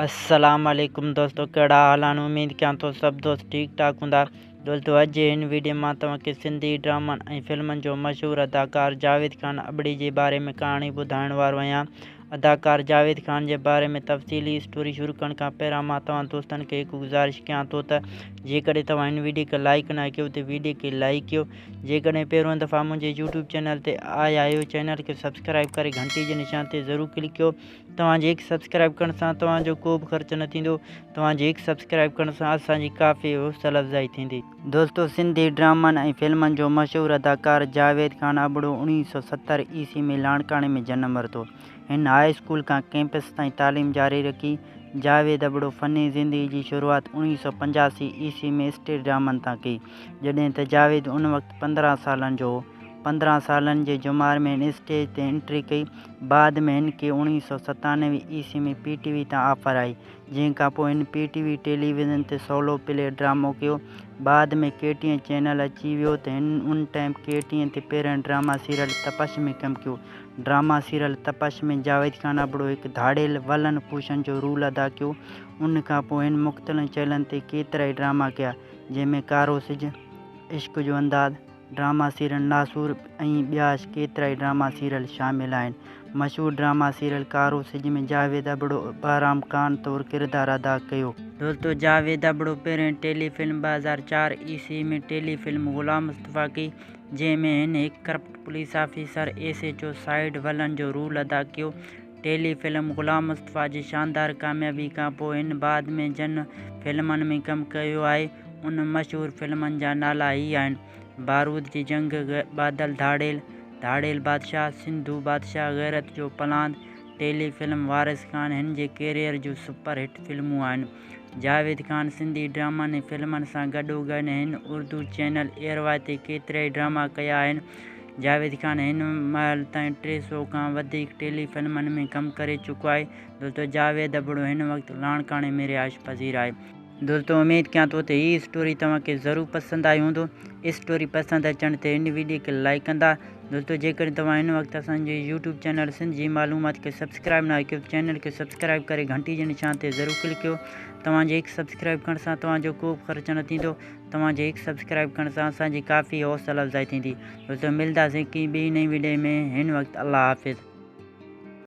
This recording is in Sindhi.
السلام عليڪم دوستو ڪهڙا حال آهن اميد ڪيان ٿو سڀ دوست ٺيڪ ٺاڪ هوندا دوستو اڄ جي هن ويڊيو مان توهان کي سنڌي ڊرامن ۽ فلمن جو مشهور اداڪار جاويد خان ابڙي جي باري ۾ ڪهاڻي ٻڌائڻ وارو آهيان اداڪار جاويد خان جي باري ۾ تفصيلي اسٽوري شروع ڪرڻ کان پهريان مان توهان دوستن کي هڪ گذارش ڪيان ٿو ته جيڪڏهن توهان هن ويڊيو کي لائڪ نه ڪيو ته ويڊيو کي لائڪ ڪيو جيڪڏهن پهريون دفعا منهنجي يوٽيوب چينل تي آيا آهيو چينل کي سبسڪرائب ڪري گهنٽي جي نشان تي ضرور ڪلڪ ڪيو توهان جي هڪ سبسڪرائيب ڪرڻ سان توهان جو ڪو به خرچ نه ٿيندو. توهان جي هڪ سبسڪرائيب ڪرڻ سان اسان جي ڪافي حوصله افزائي ٿيندي. دوستو سنڌي ڊرامن ۽ فلمن جو مشهور اداڪار جاويد خان ابڙو اڻويهه سؤ ستر عيسوي ۾ لاڙڪاڻي ۾ جنم ورتو. هن هاء اسڪول کان ڪئمپس تائين تعليم جاري رکي. جاويد ابڙو فني زندگي جي شروعات اڻويهه سؤ پنجاسي عيسوي ۾ اسٽيج ڊرامن تان ڪئي جڏهن ته جاويد ان وقت پندرهن سالن جو هو. پندرهن سالن جي جمار ۾ هن اسٽيج تي انٽري ڪئي. بعد ۾ هن کي اوڻيهه سؤ ستانوي عيسوي ۾ پي ٽي وي تان آفر آئي، جنهن کان پوء هن پي ٽي وي ٽيليويزن تي سولو پلي ڊرامو ڪيو. بعد ۾ ڪي ٽي اين چينل اچي ويو ته هن ان ٽائيم ڪي ٽي اين تي پهرئين ڊراما سيريل تپش ۾ ڪم ڪيو. ڊراما سيريل تپش ۾ جاويد خان ابڙو هڪ ڌاڙيل ولن ڪوشن جو رول ادا ڪيو. ان کان پوء هن مختلن چيلن تي ڪيترائي ڊراما ڪيا، جنهن ۾ ڪارو سج، عشق جو انداز، ڊراما سيريل ناسور ۽ ٻيا ڪيترائي ڊراما سيريل شامل آهن. مشهور ڊراما سيريل ڪارو سج ۾ جاويد ابڙو بهرام خان طور ڪردار ادا ڪيو. دوستو جاويد ابڙو پهرين ٽيلي فلم ٻه هزار چار عيسوي ۾ ٽيلي فلم غلام مصطفيٰ ڪئي جنهن ۾ هن هڪ corrupt police officer S H O side villain جو رول ادا ڪيو. ٽيلي فلم غلام مصطفيٰ جي شاندار ڪاميابي کان پوء هن بعد ۾ جن فلمن ۾ ڪم ڪيو آهي، انهن مشهور فلمن جا نالا هي آهن، بارود جي جنگ، بادل، ڌاڙيل، ڌاڙيل بادشاهه، سنڌو بادشاهه، غيرت جو پلاند، ٽيلي فلم وارث خان هن جي ڪيريئر جون سپر هٽ فلمون آهن. جاويد خان سنڌي ڊرامن ۽ فلمن سان گڏوگڏ هن اردو چينل ايئروائي تي ڪيترائي ڊراما ڪيا آهن، جاويد خان هن مهل تائين ٽي سؤ کان وڌيڪ ٽيلي فلمن ۾ ڪم ڪري چڪو آهي. دوستو جاويد ابڙو هن وقت لاڙڪاڻي ۾ رهائش پذير آهي. دوستو اميد ڪيان ٿو ته هي اسٽوري توهان کي ضرور پسند آئي هوندو. اسٽوري پسند اچڻ تي هن ويڊيو کي لائيڪ ڪندا. دوستو جيڪڏهن توهان هن وقت اسان جي يوٽيوب چينل سنڌ جي معلومات کي سبسڪرائيب ناهي ڪيو ته چينل کي سبسڪرائيب ڪري گهنٽي جي نشان تي ضرور ڪلڪ ڪيو. توهان جي هڪ سبسڪرائيب ڪرڻ سان توهان جو ڪو به خرچ نه ٿيندو. توهان جي هڪ سبسڪرائيب ڪرڻ سان اسان جي ڪافي حوصله افزائي ٿيندي دوستو ملداسين ڪي ٻي نئين وڊيو ۾ هن وقت الله حافظ.